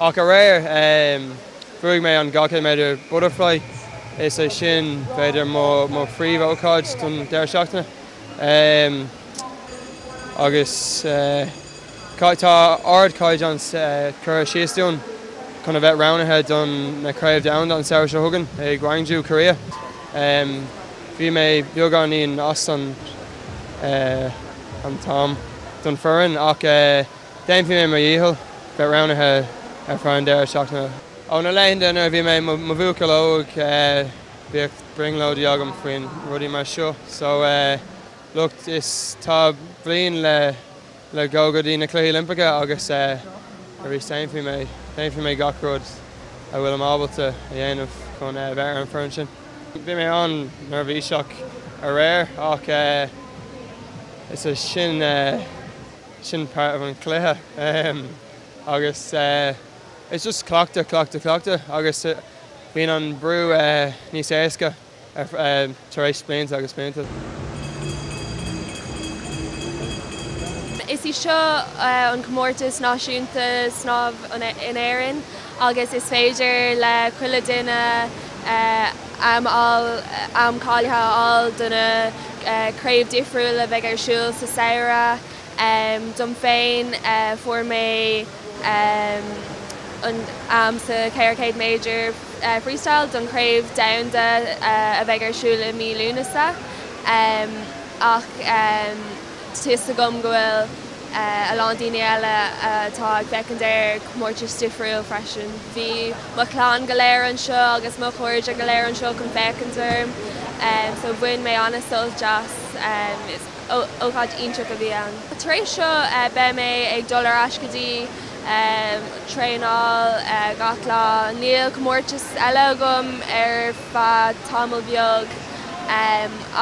Ach aréir, bhuaigh mé an 200 méadar butterfly, is é sin b'fhéidir mo phríomh ócáid don deireadh seachtaine. Agus tá ard chaighdeán curtha síos dúinn chun bheith roghnaithe don na craobh domhanda an samhradh seo chugainn i Gwangju, Korea. Bhí mé beagáinín as an an t-am don foireann ach. Déanfaidh mé mo dhícheall bheith roghnaithe ar feadh an deireadh seachtaine. Ó na laethanta nuair a bhí mé i mo bhuachaill óg bhíodh brionglóidí agam faoin rudaí mar seo so like tá bliain le le dhul go dtí na cluichí Oilimpeacha agus arís déanfaidh mé déanfaidh mé gach rud a bhfuilim ábalta a dhéanamh chun bheith ar an foireann sin. Bhí mé an-neirbhíseach aréir ach is é sin. sin páirt den chluiche agus it's just cleachtadh, cleachtadh, cleachtadh agus bíonn an brú níos éasca tar éis blianta agus blianta. Is í seo an comórtas náisiúnta snámh in Éirinn agus is féidir le chuile duine am a fháil, am cáilithe a fháil do na craobh difriúil a bheidh ar siúl sa samhradh. Dom féin, fuair mé an t-am sa 400 méadar freestyle don chraobh domhanda a bheidh ar siúl i mí Lúnasa ach. Tá's agam go bhfuil a lán daoine eile atá ag féachaint ar comórtais difriúil freisin. Bhí mo chlann go léir anseo agus mo chairde go léir anseo chun féachaint orm so bhain mé an-sult as. Ócáid iontach a bhí ann. Tar éis seo beidh mé ag dul ar ais go dtí traenáil gach lá. Níl comórtas eile agam ar. Feadh tamall beag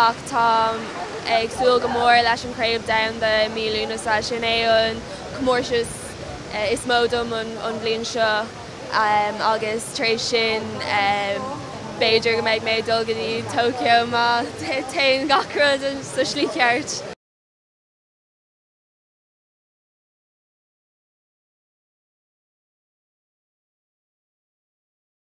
ach táim ag súil go mór leis an Chraobh Domhanda i mí Lúnasa. Sin é an comórtas is mó dom an bhliain seo agus tar éis sin b'fhéidir go mbeidh mé ag dul go dtí Tokyo má théann gach rud sa slí cheart.